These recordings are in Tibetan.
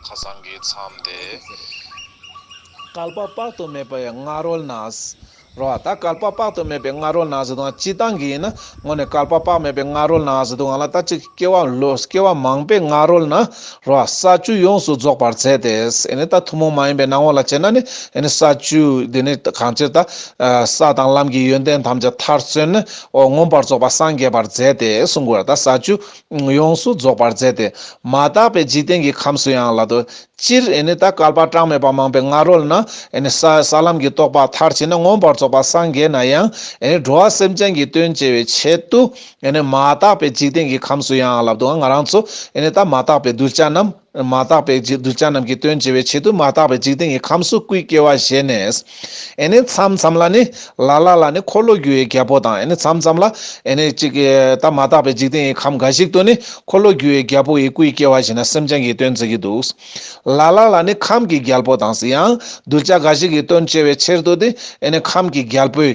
ཁ་སང་གི་མཚམས་དེ། བསྐལ་པ་དཔག་ཏུ་མེད་པའི་སྔ་རོལ་ན། རོ་བ། ད་བསྐལ་པ་དཔག་ཏུ་མེད་པའི་སྔ་རོལ་ན་ཟེར་དུ་འང་ཅི་སྟངས་ཀྱི་ཡིན་ན། སྔོན་ནས་བསྐལ་པ་དཔག་མེད་པའི་སྔ་རོལ་ན་ཟེར་དུ་འང་ལ་ད་ཅིག་སྐྱེ་བ་ལོས་སྐྱེ་བ་མང་པའི་སྔ་རོལ་ན། རོ་བ། ས་བཅུ་ཡོངས་སུ་རྫོགས་པར་མཛད་དེ། ཨེ་ནི་ད་ཐུན་མོང་མ་ཡིན་པའི་སྣང་བ་ལ་དཔྱད་ན་ནི། ཨེ་ནི་ས་བཅུ་འདི་ནི་གང་ཕྱིར་ད། ས་དང་ལམ་གྱི་ཡོན་ཏན་ཐམས་ཅད་མཐར་སོན་ནོ། མངོན་པར་རྫོགས་པ་སངས་རྒྱས་པར་མཛད་དེ་གསུང་དགོས། ད་ས་བཅུ་ཡོངས་སུ་རྫོགས་པར་མཛད་དེ། མ་དག་པའི་འཇིག་རྟེན་གྱི་ཁམས་སུ་ཡང་ལ་དོ། སྤྱིར་ད་སྐལ་པ་གྲངས་མེད་པ་མང་པོའི་སྔ་རོལ་ན། ས་ལམ་གྱི་རྟོགས་པ་མཐར་ཕྱིན་ན་མངོན་པར་རྫོགས་པར་སངས་རྒྱས་ན་ཡང། འགྲོ་བ་སེམས་ཅན་གྱི་དོན་བྱེད་པའི་ཆེད་དུ། མ་དག་པའི་འཇིག་རྟེན་གྱི་ཁམས་སུ་ཡང་ལ་དོ། ང་རང་ཚོ། ད་མ་དག་པའི་གདུལ་བྱ་རྣམས། མ་དག་པའི་གདུལ་བྱ་རྣམས་ཀྱི་དོན་བགྱི་བའི་ཆེད་དུ་མ་དག་པའི་འཇིག་རྟེན་གྱི་ཁམས་སུ་སྐུའི་སྐྱེ་བ་བཞེས་ནས། ཨེ་ནི་མཚམས་མཚམས་ལ་ནི། ལ་ལ་ལ་ནི་འཁོར་ལོ་རྒྱུ་བའི་རྒྱལ་པོ་དང་ཨེ་ནི་མཚམས་མཚམས་ལ། ཨེ་ནི་གཅིག། ད་མ་དག་པའི་འཇིག་རྟེན་གྱི་ཁམས་འགའ་ཞིག་ཏུ་ནི་འཁོར་ལོ་རྒྱུ་བའི་རྒྱལ་པོ་ཡི་སྐུའི་སྐྱེ་བ་བཞེས་ན་སེམས་ཅན་གྱི་དོན་བགྱི་གི་འདུག། ལ་ལ་ལ་ནི་ཁམས་ཀྱི་རྒྱལ་པོ་དང། ཡང་གདུལ་བྱ་འགའ་ཞིག་གི་དོན་བགྱི་བའི་ཕྱིར་དུ་སྟེ་ཨེ་ནི་ཁམས་ཀྱི་རྒྱལ་པོས།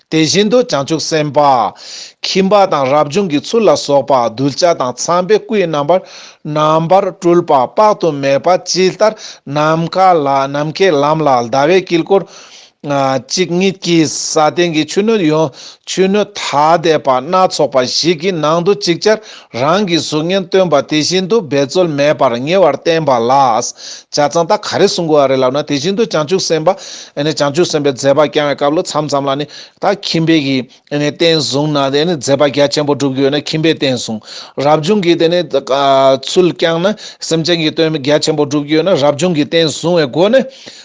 དེ་བཞིན་དུ་བྱང་ཆུབ་སེམས་དཔའ། ཁྱིམ་པ་དང་རབ་བྱུང་གི་ཚུལ་ལ་སོགས་པ་གདུལ་བྱ་དང་ཚངས་པའི་སྐུའི་རྣམ་པར་རྣམ་པར་སྤྲུལ་པ་དཔག་ཏུ་མེད་པ་ཇི་ལྟར་ནམ་མཁའ་ལ་ནམ་མཁའི་ལམ་ལ་ཟླ་བའི་དཀྱིལ་འཁོར། གཅིག་ཉིད་ཀྱི་ས་སྟེང་གི་ཆུ་སྣོད་ཡོངས་ཆུ་སྣོད་ཐ་དད་པ་སྣ་ཚོགས་པ་ཞིག་གི་ནང་དུ་ཅིག་ཅར་རང་གི་གཟུགས་བརྙན་སྟོན་པ་དེ་བཞིན་དུ་འབད་རྩོལ་མེད་པར་ཉེ་བར་བསྟན་པ་ལ། བྱ་ཚང་ད་ག་རེ་གསུང་དགོས་རེད་ལབ་ན་དེ་བཞིན་དུ་བྱང་ཆུབ་སེམས་དཔའ་ནི་བྱང་ཆུབ་སེམས་དཔའི་མཛད་པ་བསྐྱང་བའི་སྐབས་ལོ་མཚམས་ཙམ་ལ་ནི་ད་ཁྱིམ་པས་ཀྱི་རྟེན་བཟུང་ན་དེ་ནི་མཛད་པ་རྒྱ་ཆེན་པོ་སྒྲུབ་ཀྱི་ཡོད་ན་ཁྱིམ་པས་རྟེན་བཟུང། རབ་བྱུང་གིས་དེ་ནི་ཚུལ་བསྐྱངས་ན་སེམས་ཅན་གྱི་དོན་རྒྱ་ཆེན་པོ་སྒྲུབ་ཀྱི་ཡོད་ན་རབ་བྱུང་གིས་རྟེན་བཟུང་བའི་སྒོ་ནས་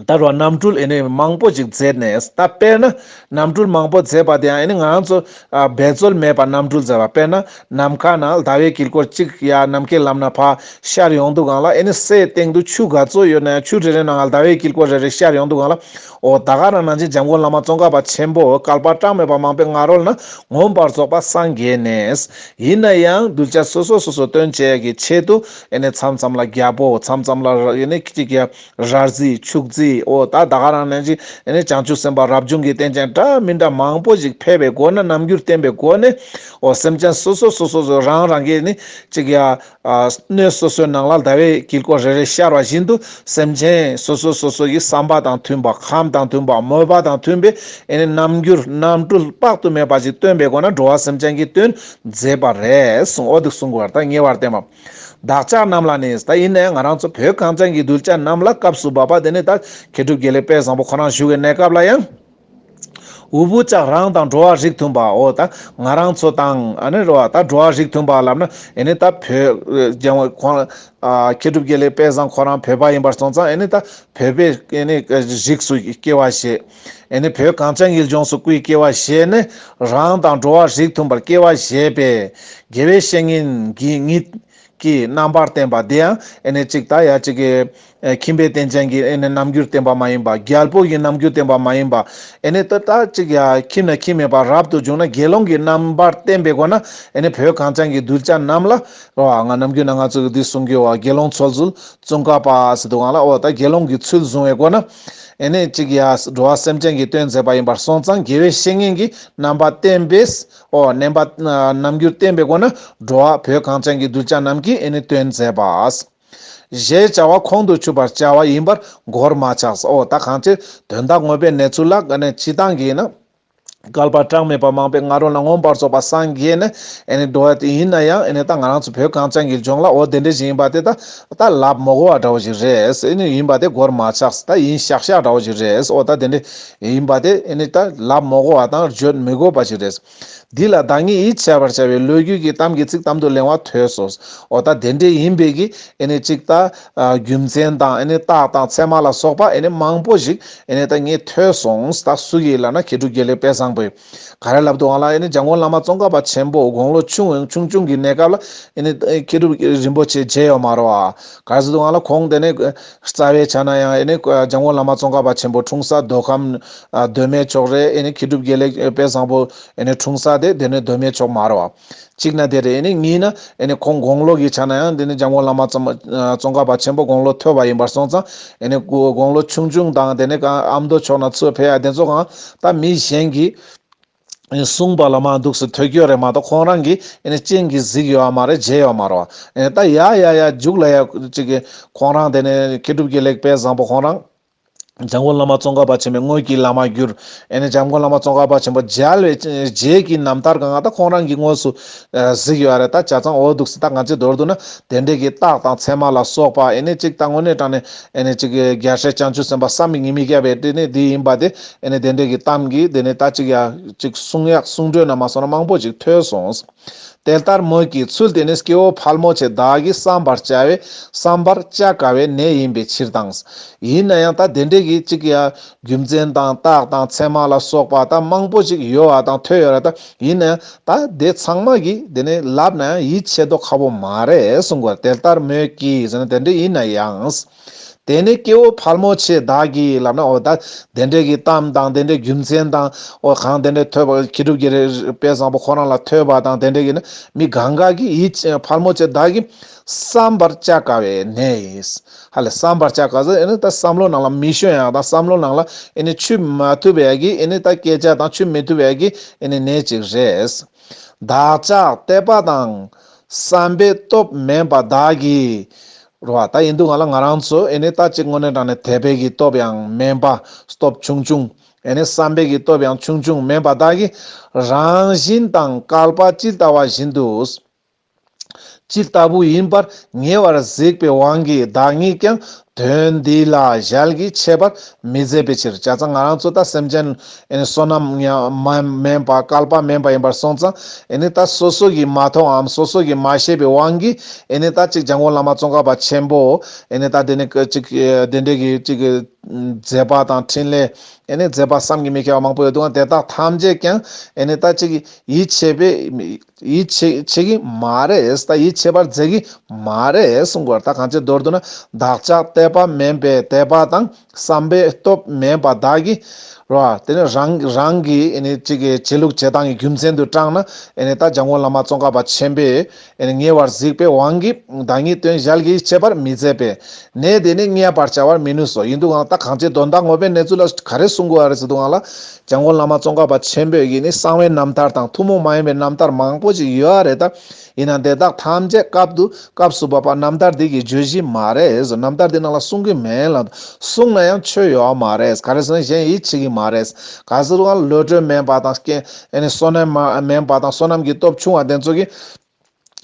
ལྟར་བ་གནམ་གྲུ་ཨེ་ནི་མང་པོ་ཅིག་མཛད་ནས་ད་དཔེར་ན་གནམ་གྲུ་མང་པོ་མཛད་པ་དེ་ཡང་ཨེ་ནི་ང་ཚོ་འབད་རྩོལ་མེད་པར་གནམ་གྲུ་མཛད་པ་དཔེར་ན་ནམ་མཁའ་ན་ཟླ་བའི་དཀྱིལ་འཁོར་གཅིག་ཡ་ནམ་མཁའི་ལམ་ན་ཕ་ཤར་ཡོང་འདུག་གང་ལ་ཨེ་ནི་སའི་སྟེང་དུ་ཆུ་ག་ཚོད་ཡོད་ན་ཡང་ཆུ་རེ་རེ་ནང་ལ་ཟླ་བའི་དཀྱིལ་འཁོར་རེ་རེ་ཤར་ཡོང་འདུག་གང་ལ་འོ་ད་ག་རང་ནང་ཆེན་འཇམ་མགོན་བླ་མ་ཙོང་ཁ་པ་ཆེན་པོ་སྐལ་པ་གྲངས་མེད་པ་མང་པོའི་ང་རོ་ལ་ན་ངོམས་པར་རྫོགས་པ་སངས་རྒྱས་ནས། ཡིན་ན་ཡང་གདུལ་བྱ་སོ་སོ་སོ་སོ་སྟོན་བྱེད་ཀྱི་ཆེད་དུ་ཨེ་ནི་མཚམས་མཚམས་ལ་རྒྱལ་པོ་མཚམས་མཚམས་ལ་ཨེ་ནི་གཅིག་ཡ། རར་རྩིས་ཕྱུགས་རྩིས་འོ་ད་ད་ག་རང་ནན་ཅིག་ཨེ་ནས་བྱང་ཆུབ་སེམས་དཔའ་རབ་བྱུང་གི་རྟེན་ཅན་འདྲ་མི་འདྲ་མང་པོ་ཞིག་ཕལ་པའི་སྒོ་ན་རྣམ་འགྱུར་བསྟན་པའི་སྒོ་ནས་འོ་སེམས་ཅན་སོ་སོ་སོ་སོ་སོ་རང་རང་གིས་ནི་ཅིག་ཡ། སྣོད་སོ་སོའི་ནང་ལ་ཟླ་བའི་དཀྱིལ་འཁོར་རེ་རེ་ཤར་བ་བཞིན་དུ་སེམས་ཅན་སོ་སོ་སོ་སོ་ཡི་བསམ་པ་དང་མཐུན་པ་ཁམས་དང་མཐུན་པ་མོས་པ་དང་མཐུན་པའི་ཨེ་ནས་རྣམ་འགྱུར་རྣམ་སྤྲུལ་དཔག་ཏུ་མེད་པ་ཞིག་སྟོན་པའི་སྒོ་ན་འགྲོ་བ་སེམས་ཅན་གྱི་དོན་མཛད་པ་རེ་ཟུང་འོ་འདི་གསུང་དགོས་པར་ཐ་སྙད་བར་བསྟན་པ། བདག་ཅག་རྣམས་ལ་ནི་ད་ཡིན་ནས་ང་རང་ཚོ་བོད་གངས་ཅན་གྱི་གདུལ་བྱ་རྣམས་ལ་སྐབས་སུ་བབ་པ་དེ་ནི་ད་མཁས་གྲུབ་རྒྱལ་ལེགས་དཔལ་བཟང་པོ་ཁོ་རང་བཞུགས་བའི་གནས་སྐབས་ལ་ཡང། འུ་བུ་ཅག་རང་དང་འགྲོ་བ་རིགས་མཐུན་པའོ་ད་ང་རང་ཚོ་དང། ད་འགྲོ་བ་རིགས་མཐུན་པ་ལབ་ན་ཨེ་ནི་ད་བོད། མཁས་གྲུབ་རྒྱལ་ལེགས་དཔལ་བཟང་ཁོ་རང་བོད་པ་ཡིན་པར་སོང་ཙང་ཨེ་ནི་ད་བོད་པའི་རིགས་སུ་སྐྱེ་བ་བཞེས། ཨེ་ནི་བོད་གངས་ཅན་ཡུལ་ལྗོངས་སུ་སྐུའི་སྐྱེ་བ་བཞེས་ནས་རང་དང་འགྲོ་བ་རིགས་མཐུན་པར་སྐྱེ་བ་བཞེས་པས་དགེ་བའི་བཤེས་གཉེན་གྱི་ཉིད་ཀྱིས་རྣམ་པར་བསྟན་པ་འདི་ཡང་ཨེ་ནི་གཅིག་དང་ཡང་གཅིག་གི། ཁྱིམ་པའི་རྟེན་ཅན་གྱི་ཨེ་ནི་རྣམ་འགྱུར་བསྟན་པ་མ་ཡིན་པ་རྒྱལ་པོ་ཡི་རྣམ་འགྱུར་བསྟན་པ་མ་ཡིན་པ་ཨེ་ནི་དེ་དག་གཅིག་ཡང་ཁྱིམ་ན་ཁྱིམ་མེད་པར་རབ་ཏུ་བྱུང་ན་དགེ་སློང་གི་རྣམ་པར་བསྟན་པའི་སྒོ་ན་ཨེ་ནི་བོད་གངས་ཅན་གྱི་གདུལ་བྱ་རྣམས་ལ། རོ་ཨ་ང་རྣམ་ཀུན་ན་ང་ཚོ་གི་འདི་གསུང་གི་འོ་དགེ་སློང་ཚོལ་ཚུལ་ཙུང་ཀ་པ་སི་དུ་ཀང་ལ་འོ་ད་དགེ་སློང་གི་ཚུལ་བཟུང་བའི་སྒོ་ན། ཨེ་ནས་ཅིག་ཡ། འགྲོ་བ་སེམས་ཅན་གྱི་སྟོན་མཛད་པ་ཡིན་པར་སོང་ཙང་དགེ་བའི་བཤེས་གཉེན་གྱིས་རྣམ་པ་བསྟན་པས་འོ། བསྣན་པ། རྣམ་འགྱུར་བསྟན་པའི་སྒོ་ན་འགྲོ་བ་བོད་གངས་ཅན་གྱི་གདུལ་བྱ་རྣམས་ཀྱིས་ཨེ་ནས་སྟོན་མཛད་པ། ཞེས་བྱ་བ་ཁོང་དུ་ཆུད་པར་བྱ་བ་ཡིན་པར་མགོར་མ་ཆགས་སོ། ད་གང་ཕྱིར་དོན་དག་དངོས་པའི་གནས་ཚུལ་ལ་ཀ་ནས་སྤྱི་དང་གིས་ན། བསྐལ་པ་གྲངས་མེད་པ་མང་པོའི་ང་རོ་ལ་ངོམས་པར་རྫོགས་པ་སངས་རྒྱས་ནི་འགྲོ་བ་དེ་ཡིན་ན་ཡང་ད་ང་རང་ཚོ་བོད་གངས་ཅན་གྱི་ལྗོངས་ལ་འོ་དེ་འདྲ་ཞིག་ཡིན་པ་དེ་ད་ད་ལབ་མོ་གོ་བ་འདྲ་བོ་ཞིག་རེད་ཡིན་པ་དེ་གོར་མ་ཆགས་ད་ཡིན་ཤག་ཤག་འདྲ་བོ་ཞིག་རེད་འོ་ད་དེ་འདྲ་ཡིན་པ་དེ་ད་ལབ་མོ་གོ་བ་དང་བརྗོད་མི་དགོས་པ་ཞིག་རེད། འདི་ལ་བདག་ཉིད་ཡིད་ཆེས་པར་བྱ་བའི་ལོས་རྒྱུས་ཀྱི་གཏམ་གྱི་ཚིག་གཏམ་དུ་གླེང་བ་ཐོས་སོ། འོ་ད་དེ་འདྲ་ཡིན་པས་ཀྱི་ཅིག་ད་རྒྱུ་མཚན་དང་རྟགས་དང་ཚད་མ་ལ་སོགས་པ་མང་པོ་ཞིག་ཨེ་ནས་ད་ངས་ཐོས་སོང་ད་སུ་ཡིས་ལབ་ན་ཁྱེད་དྲུག་རྒྱལ་ལས་དཔལ་བཟང་པོས་ག་རེ་ལབ་འདུག་ཨང་ལ་ཨེ་ནས་འཇམ་མགོན་བླ་མ་ཙོང་ཁ་པ་ཆེན་པོ་དགུང་ལོ་ཆུང་བའི་ཆུང་ཆུང་གི་གནས་སྐབས་ལ་ཨེ་ནས་ཁྱེད་དྲུག་རིན་པོ་ཆེ་མཇལ་ཡོད་མ་རོ་ཨ། ག་རེ་ཟེར་འདུག་ཨང་ལ་ཁོང་དེ་ནས་རྩ་བའི་ཆ་ན་ཡང་ཨེ་ནས་འཇམ་མགོན་བླ་མ་ཙོང་ཁ་པ་ཆེན་པོ་འཁྲུངས་ས་རྡོ་ཁམས་གདོད་མའི་ཕྱོགས་རེད་ཨེ་ནས་ཁྱེད་དྲུག་རྒྱལ་ལས་དཔལ་བཟང་པོ་ཨེ་ནས་འཁྲུངས་ས་དེ་དེ་ནས་གདོད་མའི་ཕྱོགས་མ་རོ་ཨ། གཅིག་ན་དེ་རེད། གཉིས་ན། ཁོང་དགོངས་ལོ་གྱི་ཆ་ན་ཡང་འདི་ནི་འཇམ་མགོན་བླ་མ་ཙོང་ཁ་པ་ཆེན་པོ་དགོངས་ལོ་མཐོ་བ་ཡིན་པར་སོང་ཙང། དགོངས་ལོ་ཆུང་ཆུང་དང་དེ་ནས་ཨ་མདོ་ཕྱོགས་ན་ཚུར་ཕེབས་ཡ་དེ་ཚོ་གང་ད་མི་གཞན་གྱིས་གསུངས་པ་ལ་མ་འདུག་སི་ཐོད་སྐྱོད་རེད་མ་གཏོགས་ཁོང་རང་གིས་སྤྱན་གྱིས་གཟིགས་ཡོད་ཨ་མ་རེད་བརྗེད་ཡོད་མ་རོད། ད་ཡ་ཡ་ཡ་རྒྱུགས་ལ་ཡ་ཅིག་ཁོང་རང་དེ་ནས་མཁས་གྲུབ་ཀྱི་ལེགས་སྤེལ་བཟང་པོ་ཁོང་རང། འཇམ་མགོན་བླ་མ་ཙོང་ཁ་པ་ཆེན་པོའི་དངོས་ཀྱི་བླ་མ་གྱུར། ཨེ་ནས་འཇམ་མགོན་བླ་མ་ཙོང་ཁ་པ་ཆེན་པོ་མཇལ་བའི་རྗེས་ཀྱི་རྣམ་ཐར་གང་ད་ཁོང་རང་གིས་དངོས་སུ་གཟིགས་ཡོད་རེད་ད་ཇག་ཚང་འོ་འདུག་སྲིད་ད་ང་ཚོའི་མདོར་བསྡུ་ན་དེ་འབྲེལ་གྱི་རྟགས་དང་མཚན་མ་ལ་སོགས་པ་ཨེ་ནས་གཅིག་ད་དངོས་གནས་དྲང་ནས་ཨེ་ནས་གཅིག་རྒྱལ་སྲས་བྱང་ཆུབ་སེམས་དཔའ་བསམ་མི་ངེས་མི་སྐྱ་བའི་དྲིན་ནི་འདི་ཡིན་པ་དེ་ཨེ་ནས་དེ་འབྲེལ་གྱི་གཏམ་གྱིས་དེ་ནས་ད་གཅིག་ཡ་གཅིག་གསུང་ཡག་གསུང་བྲོས་ན་མ་སོང་ན་མང་པོ་ཅིག་ཐོས་སོང། དེ་ལྟར་མོད་ཀྱི་ཚུལ་དེ་ནི་སྐྱེ་བོ་ཕལ་མོ་ཆེ་དག་གིས་བསམ་པར་བྱ་བའི་བསམ་པར་བཅའ་དཀའ་བའི་གནས་ཡིན་པའི་ཕྱིར་དང། ཡིན་ན་ཡང་ད་དེ་འདྲས་ཀྱི་གཅིག་གི་ཡང་རྒྱུ་མཚན་དང་རྟགས་དང་མཚན་མ་ལ་སོགས་པ་དག་མང་པོ་ཅིག་ཡོད་བ་དང་ཐོས་ཡོད་ར་ད་ཡིན་ན་ཡང་ད་དེ་ཚང་མ་གིས་དེ་ནི་ལབ་ན་ཡང་ཡིད་ཆེས་དོ་ཁ་བོ་མ་རེད་གསུང་གོ་དེ་ལྟར་མོད་ཀྱི་ཟེར་ན་དེ་འདྲས་ཡིན་ན་ཡང། དེ་ནས་སྐྱེ་བོ་ཕལ་མོ་ཆེས་བདག་གི་ལབ་ན་འོ་ད་དེ་འདྲས་ཀྱི་གཏམ་དང་དེ་འདྲས་རྒྱུ་མཚན་དང་འོ་གང་དེ་འདྲས་ཐོས་པ་ཁྱི་ཕྲུག་གི་རེ་དཔལ་བཟང་པོ་ཁོ་རང་ལ་ཐོས་པ་དང་དེ་འདྲས་ཀྱི་ནི་མི་ག་འགའ་གི་ཡིད་ཀྱི་ཕལ་མོ་ཆེ་བདག་གི་བསམ་པར་བཅའ་དཀའ་བའི་གནས་ཡིན། ཧ་ལས་བསམ་པར་བཅའ་དཀའ་ཟེར་ཨེ་ནི་ད་བསམ་བློ་ནང་ལ་མི་ཤོན་ཡང་དང་བསམ་བློ་ནང་ལ་ཨེ་ནི་ཆུད་མ་ཐུབ་པའི་གི་ཨེ་ནི་ད་སྐད་ཆ་དང་ཆུད་མི་ཐུབ་པའི་གི་ཨེ་ནི་གནས་ཅིག་རེད། བདག་ཅག་དད་པ་དང་བསམ་པའི་སྟོབས་མེད་པ་བདག་གིས་རུ་བ་ད་ཡིན་འདུག་ང་ལ་ང་རང་ཚོས་ཨེ་ནས་ད་གཅིག་དངོས་གནས་དྲང་ནས་དད་པའི་གི་སྟོབས་ཡང་དམན་པ་སྟོབས་ཆུང་ཆུང་ཨེ་ནས་བསམ་པའི་གི་སྟོབས་ཡང་ཆུང་ཆུང་དམན་པ་དག་གི་རང་བཞིན་དང་བསྐལ་པ་ཅི་ལྟ་བ་བཞིན་དུ་ཇི་ལྟ་བུ་ཡིན་པར་ཉེ་བར་གཟིགས་པའི་དབང་གིས་བདག་ཉིད་ཀྱང་དོན་འདི་ལ་ཞལ་གྱིས་འཆད་པར་མི་མཛད་པའི་ཕྱིར་བྱ་ཙང་ང་རང་ཚོ་ད་སེམས་ཅན་བསོད་ནམས་དམན་པ་བསྐལ་པ་དམན་པ་ཡིན་པར་སོང་ཙང་ད་སོ་སོ་གིས་མ་མཐོང་འམ་སོ་སོ་གིས་མ་ཤེས་པའི་དབང་གིས་ད་ཅིག་འཇང་དགོན་བླ་མ་ཙོང་ཁ་པ་ཆེན་པོ་ད་འདི་ནས་ཅིག་བདེ་འབྲས་ཀྱི་ཅིག་མཛད་པ་དང་འཕྲིན་ལས་མཛད་པ་བསམ་གྱིས་མི་ཁྱབ་པ་མང་པོ་ཡོད་འདུག་ང་དེ་དག་ཐམས་ཅད་ཀྱང་ད་ཅིག་ཡིད་ཆེས་པས་ཡིད་ཆེས་ཀྱི་མ་རེད་ད་ཡིད་ཆེས་པར་མཛད་ཀྱི་མ་རེད་གསུངས་པར་ད་གང་ཅིའི་མདོར་བསྡུ་ན་བདག་ཅག་དད་པ་དམན་པས་དད་པ་དང། བསམ་པའི་སྟོབས་མེད་པ་དག་གིས་རེད་བ། དེ་ནི་རང་རང་གི་བྱེད་ལུགས་བྱེད་སྟངས་ཀྱི་རྒྱུ་མཚན་དུ་བགྲངས་ན། ད་བྱང་ཁོང་བླ་མ་ཙོང་ཁ་པ་ཆེན་པོས་ཉེ་བར་གཟིགས་པའི་དབང་གིས་བདག་ཉིད་དོན་གཞལ་གྱིས་དཔྱད་པར་མི་མཛད་པས། ནད་དེ་ནི་བསྙད་པར་བྱ་བར་མི་ནུས་སོ། ཡིན་དུ་འང་ད་གང་བྱེད་དོན་དག་ངོ་བོའི་གནས་ཚུལ་ལ་ག་རེ་གསུང་དགོས་ཨ་རེ་ཟེར་དུ་འང་ལ། བྱང་ཁོང་བླ་མ་ཙོང་ཁ་པ་ཆེན་པོས་ཀྱིས་ནི་གསང་བའི་རྣམ་ཐར་དང་ཐུན་མོང་མ་ཡིན་པའི་རྣམ་ཐར་མང་པོ་ཞིག་ཡོད་ཨ་རེ་ད། ཡིན་ན་དེ་དག་ཐམས་ཅད་སྐབས་དུ་སྐབས་སུ་བབ་པ་རྣམ་ཐར་འདི་གི་བརྗོད་གཞི་མ་རེད་རྣམ་ཐར་འདི་ནང་ལ་གསུང་གི་མེད་ལ། གསུང་ན་ཡང་ཆོས་ཡོད་བ་མ་རེད་ག་རེ་ཟེར་ན་གཞན་ཡིད་ཆེས་ཀྱི་མ་རེད། ག་ཟེར་བ་བློ་གྲོས་དམན་པ་དང་རྐྱེན་བསོད་ནམས་མ་དམན་པ་དང་བསོད་ནམས་ཀྱི་སྟོབས་ཆུང་བ་དེ་ཚོ་གིས།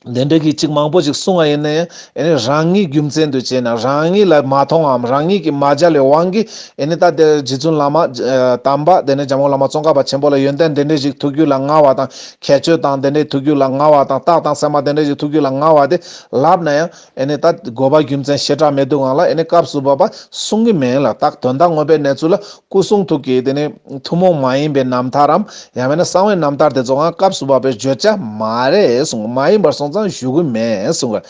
དེ་འདྲ་གི་ཅིག་མང་པོ་ཅིག་གསུང་བ་ཡིན་ན་ཡང་རང་ཉིད་རྒྱུ་མཚན་དུ་བྱས་ན་རང་ཉིད་ལ་མ་མཐོང་བའམ་རང་ཉིད་ཀྱིས་མ་སྦྱར་བའི་དབང་གིས་ད་ལྟའི་རྗེ་བཙུན་བླ་མ་དམ་པ་དེ་ནས་འཇམ་དབྱངས་བླ་མ་ཙོང་ཁ་པ་ཆེན་པོ་ལ་ཡོན་ཏན་འདི་འདྲ་ཞིག་ཐུགས་རྒྱུད་ལ་མངའ་བ་དང། ཁྱད་ཆོས་དང་དེ་འདྲའི་ཐུགས་རྒྱུད་ལ་མངའ་བ་དང་རྟགས་དང་སེམས་མ་དེ་འདྲ་ཞིག་ཐུགས་རྒྱུད་ལ་མངའ་བ་དེ་ལབ་ན་ཡང་ཨེ་ནས་ད་དགོས་པ་རྒྱུ་མཚན་ཞེ་དྲག་མེད་འདུག་ང་ལ་ཨེ་ནས་སྐབས་སུ་བབ་པ་གསུང་གི་མིན་ལ་རྟགས་དོན་དག་མངོན་པའི་གནས་ཚུལ་ལ་སྐུ་གསུང་ཐུགས་ཀྱི་དེ་ནི་ཐུན་མོང་མ་ཡིན་པའི་རྣམ་ཐར་རམ་ཡང་བས་ན་གསང་བའི་རྣམ་ཐར་དེ་ཚོའང་སྐབས་སུ་བབ་པའི་བརྗོད་བྱ་མ་རེད་གསུང་མ་ཡིན་པར་སོང་ཙང་བཞུགས་དགོས་མེད་གསུང་གི།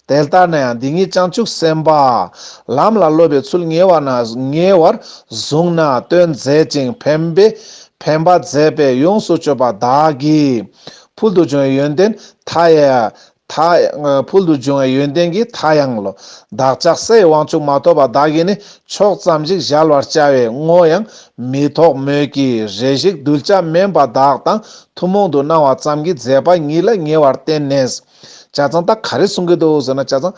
དེ་ལྟར་ན་ཡང་འདི་ཉིད་བྱང་ཆུབ་སེམས་དཔའ། ལམ་ལ་སློབ་པའི་ཚུལ་ཉེ་བར་ན་ཉེ་བར་བཟུང་ན་སྟོན་མཛད་ཅིང་ཕན་པའི་ཕན་པ་མཛད་པས་ཡོངས་སུ་སྤྱོད་པ་བདག་གིས། ཕུལ་དུ་བྱུང་བའི་ཡོན་ཏན་མཐའ་ཡས། ཕུལ་དུ་བྱུང་བའི་ཡོན་ཏན་གྱི་མཐའ་ཡང་ལོ། བདག་ཅག་སའི་དབང་ཕྱུག་མ་ཐོབ་པ་བདག་གིས་ནི་ཕྱོགས་ཙམ་ཞིག་གཞལ་བར་བཅའ་བའི་བསྔོ་ཡང་མི་ཐོགས་མོད་ཀྱི་རེ་ཞིག་གདུལ་བྱ་དམན་པ་བདག་དང་ཐུན་མོང་དུ་སྣང་བ་ཙམ་གྱི་མཛད་པ་ཉིད་ལ་ཉེ་བར་བསྟན་ནས། བྱ་ཚང་ད་ག་རེ་གསུང་གི་འདུག་ཟེར་ན་བྱ་ཚང།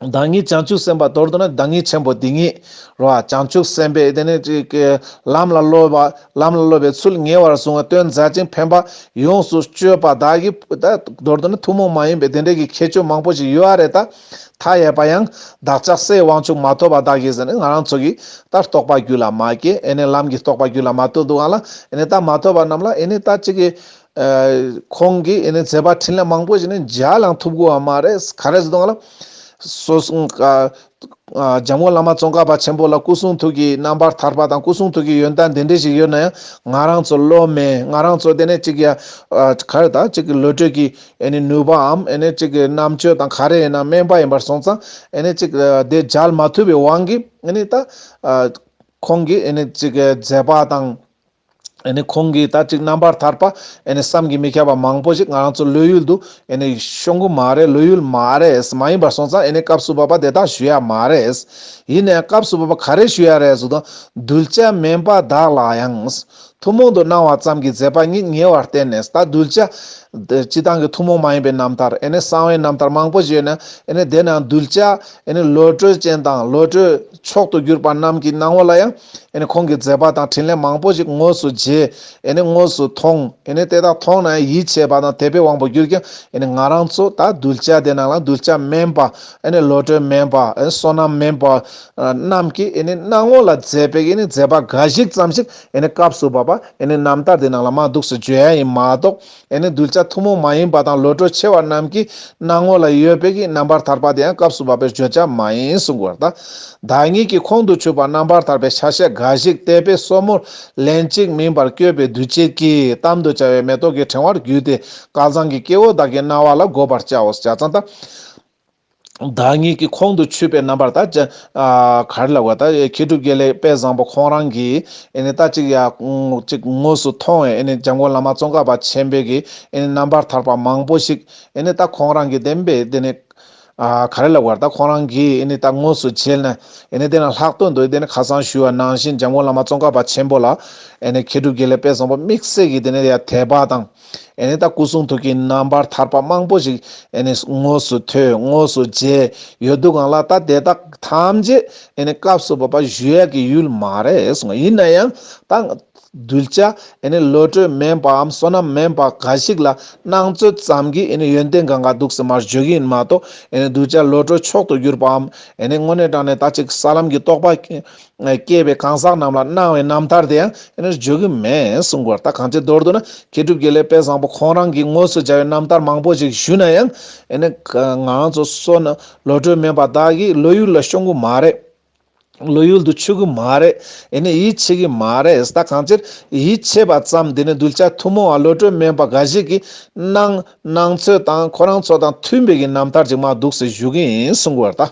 བདག་ཉིད་བྱང་ཆུབ་སེམས་དཔའ་དོར་འདོད་ན་བདག་ཉིད་ཆེན་པོ་འདི་ཉིད། རོ། བྱང་ཆུབ་སེམས་དཔས་དེ་ནས་ཅི། ལམ་ལ་སློབ་པ། ལམ་ལ་སློབ་པའི་ཚུལ་ཉེ་བར་བཟུང་བ་སྟོན་མཛད་ཅིང་ཕན་པ། ཡོངས་སུ་སྤྱོད་པ་བདག་གིས། མདོར་དུ་ནི་ཐུན་མོང་མ་ཡིན་པའི་དེ་འདྲའི་གི་ཁྱད་ཆོས་མང་པོ་ཞིག་ཡོད་ཨ་རེད་ད། མཐའ་ཡས་པ་ཡང། བདག་ཅག་སའི་དབང་ཕྱུག་མ་ཐོབ་པ་བདག་གིས་ཟེར་ནས་ང་རང་ཚོ་གིས། ད་རྟོགས་པ་རྒྱུད་ལ་མ་སྐྱེས་ཨེ་ནས་ལམ་གྱི་རྟོགས་པ་རྒྱུད་ལ་མ་ཐོབ་འདུག་ཨང་ལ། ཨེ་ནས་ད་མ་ཐོབ་པ་རྣམས་ལ་ཨེ་ནས་ད་ཅི་གི། ཁོང་གིས་ཨེ་ནས་མཛད་པ་འཕྲིན་ལས་མང་པོ་ཞིག་ནི་མཇལ་བླངས་ཐུབ་དགོས་བ་མ་རེད་ག་རེ་ཟེར་དང་སོ་སོའི་འཇམ་མགོན་བླ་མ་ཙོང་ཁ་པ་ཆེན་པོ་ལ་སྐུ་གསུང་ཐུགས་ཀྱི་རྣམ་པར་ཐར་པ་དང་སྐུ་གསུང་ཐུགས་ཀྱི་ཡོན་བདག་འདི་འདྲི་ཞིག་ཡོད་ན་ཡང་ང་རང་ཚོ་བློ་མེད་ང་རང་ཚོ་དེ་ནས་གཅིག་ཡ་ག་རེ་དང་གཅིག་གི་བློ་གྲོས་ཀྱི་ཨེ་ནས་ནུས་པའམ་ཨེ་ནས་གཅིག་གི་རྣམ་དཔྱོད་དང་ག་རེ་ཡིན་ན་དམན་པ་ཡིན་པར་སོང་ཙང་ཨེ་ནས་གཅིག་དེ་མཇལ་མ་ཐུབ་པའི་དབང་གིས་ཨེ་ནས་ད་ཁོང་གིས་ཨེ་ནས་གཅིག་མཛད་པ་དང། ཁོང་གིས་ད་ཅིག་རྣམ་པར་ཐར་པ། བསམ་གྱིས་མི་ཁྱབ་པ་མང་པོ་ཞིག་ང་རང་ཚོའི་བློ་ཡུལ་དུ། ཤོང་གི་མ་རེད་བློ་ཡུལ་མ་རེད། མ་ཡིན་པར་སོང་ཙང་སྐབས་སུ་བབ་པ་དེ་དག་ཞུ་ཡག་མ་རེད། ཡིན་ནའང་སྐབས་སུ་བབ་པ་ག་རེ་ཞུ་ཡག་རེད་ཟུར་དང་གདུལ་བྱ་དམན་པ་དག་ལ་ཡང། ཐུན་མོང་དུ་སྣང་བ་ཙམ་གྱི་མཛད་པ་ཉིད་ཉེ་བར་བསྟན་ནས་ད་གདུལ་བྱ། སྤྱི་བཏང་གི་ཐུན་མོང་མ་ཡིན་པའི་རྣམ་ཐར། གསང་བའི་རྣམ་ཐར་མང་པོ་བཞེས་ནས། དེ་ནའང་གདུལ་བྱ། བློ་གྲོས་ཅན་དང་བློ་གྲོས་མཆོག་ཏུ་གྱུར་པ་རྣམས་ཀྱི་སྣང་བ་ལ་ཡང། ཁོང་གི་མཛད་པ་དང་དྲིན་ལན་མང་པོ་ཞིག་དངོས་སུ་མཇལ། དངོས་སུ་མཐོང། དེ་དག་མཐོང་ན་ཡིད་ཆེས་པ་དང་དད་པའི་དབང་པོ་གྱུར་ཀྱང། ང་རང་ཚོ་ད་གདུལ་བྱ་དེ་ནང་ལ་གདུལ་བྱ་དམན་པ། བློ་གྲོས་དམན་པ། བསོད་ནམས་དམན་པ། རྣམས་ཀྱིས་སྣང་ངོ་ལ་མཛད་པའི་མཛད་པ་འགའ་ཞིག་ཙམ་ཞིག་སྐབས་སུ་བབ་པ་རྣམ་ཐར་དེ་ནང་ལ་མ་འདུག་སེ་བརྗོད་ཡ་ཡིན་མ་གཏོགས། ཡང་ན་གདུལ་བྱ་ཐུན་མོང་མ་ཡིན་པ་དང་བློ་གྲོས་ཆེ་བ་རྣམས་ཀྱི་སྣང་ངོ་ལ་ཡོད་པས་ཀྱི་རྣམ་པར་ཐར་པ་དེ་ཡང་སྐབས་སུ་བབ་པའི་བརྗོད་བྱ་མ་ཡིན་གསུང་དགོས་པར་གདའ། བདག་ཉིད་ཀྱིས་ཁོང་དུ་ཆུད་པ་རྣམ་པར་ཐར་པའི་ཆ་ཤས་འགའ་ཞིག་བལྟས་པས་སོར་མོ་ལན་གཅིག་མིན་པར་བསྐྱོད་པའི་འདུ་བྱེད་ཀྱིས་གཏམ་དུ་བྱ་བའི་མེ་ཏོག་གི་ཕྲེང་བར་བརྒྱུས་ཏེ་སྐལ་བཟང་གི་སྐྱེ་བོ་བདག་གི་རྣ་བ་ལ་བསྒོ་བར་བྱའོ། བྱ་ཚང་དང། བདག་ཉིད་ཀྱི་ཁོང་དུ་ཆུད་པའི་རྣམ་པར་ད་ཅི། གར་ལ་བ་ད་མཁས་གྲུབ་རྒྱལ་ལེགས་དཔལ་བཟང་པོ་ཁོང་རང་གིས་ཨེ་ནས་ད་ཅིག་ཡ། ཅིག་དངོས་སུ་མཐོང་བས་ཨེ་ནས་འཇམ་མགོན་བླ་མ་ཙོང་ཁ་པ་ཆེན་པོས་ཀྱིས་ཨེ་ནས་རྣམ་པར་ཐར་པ་མང་པོ་ཞིག་ཨེ་ནས་ད་ཁོང་རང་གིས་བདེན་པས་དེ་ནས། གར་ལ་བ་ད་ཁོང་རང་གིས་ཨེ་ནས་ད་དངོས་སུ་མཇལ་ན་ཨེ་ནས་དེ་རྣམས་ལྷག་དོན་དུ་ཨེ་ནས་ཁ་སང་ཞུས་བ་ནང་བཞིན་འཇམ་མགོན་བླ་མ་ཙོང་ཁ་པ་ཆེན་པོ་ལ། ཨེ་ནས་མཁས་གྲུབ་རྒྱལ་ལེགས་དཔལ་བཟང་པོ་དམིགས་བསལ་གྱིས་དེ་ནས་ཡ་དད་པ་དང། ཨེ་ནས་ད་སྐུ་གསུང་ཐུགས་ཀྱི་རྣམ་པར་ཐར་པ་མང་པོ་ཞིག་ཨེ་ནས་དངོས་སུ་ཐོས་དངོས་སུ་མཇལ་ཡོད་འདུག་གང་ལགས་ད་དེ་དག་ཐམས་ཅད་ཨེ་ནས་སྐབས་སུ་བབས་པ་བཞུ་ཡག་གི་ཡུལ་མ་རེད་ཡིན་ན་ཡང་ད་གདུལ་བྱ་ཨེ་ནས་བློ་གྲོས་དམན་པའམ་བསོད་ནམས་དམན་པ་འགའ་ཞིག་ལ་སྣང་ཚོད་ཙམ་གྱིས་ཨེ་ནས་ཡོན་ཏན་གང་ག་འདུག་ཟེར་མ་བརྗོད་གི་ཡིན་མ་གཏོགས་ཨེ་ནས་གདུལ་བྱ་བློ་གྲོས་མཆོག་ཏུ་གྱུར་པའམ་ཨེ་ནས་དངོས་གནས་དྲང་ནས་ད་ཅིག་ས་ལམ་གྱི་རྟོགས་པ་སྐྱེས་པའི་གང་ཟག་རྣམས་ལ་སྣང་བའི་རྣམ་ཐར་དེའང་དེ་ནས་བརྗོད་ཀྱི་མེད་གསུངས་པར་ད་གང་ཅིའི་མདོར་བསྡུ་ན་མཁས་གྲུབ་རྒྱལ་ལས་དཔལ་བཟང་པོ་ཁོང་རང་གིས་དངོས་སུ་སྦྱར་བའི་རྣམ་ཐར་མང་པོ་ཞིག་ཞུས་ན་ཡང། ང་རང་ཚོ་བསོད་ནམས་བློ་གྲོས་མེད་པ་དག་གིས་བློ་ཡུལ་ལ་ཤོང་གི་མ་རེད། བློ་ཡུལ་དུ་ཆུད་ཀྱི་མ་རེད། ཡིད་ཆེས་ཀྱི་མ་རེད་ད་གང་ཅིར་ཡིད་ཆེས་པ་ཙམ་དེ་ནི་གདུལ་བྱ་ཐུན་མོང་བ་བློ་གྲོས་མེད་པ་འགའ་ཞིག་གིས་སྣང། སྣང་ཚོད་དང་ཁོ་རང་ཚོ་དང་མཐུན་པའི་གྱི་རྣམ་ཐར་ཅིག་མ་འདུག་ཟེར་ཞུ་གི་ཡིན་གསུངས་པར་ད།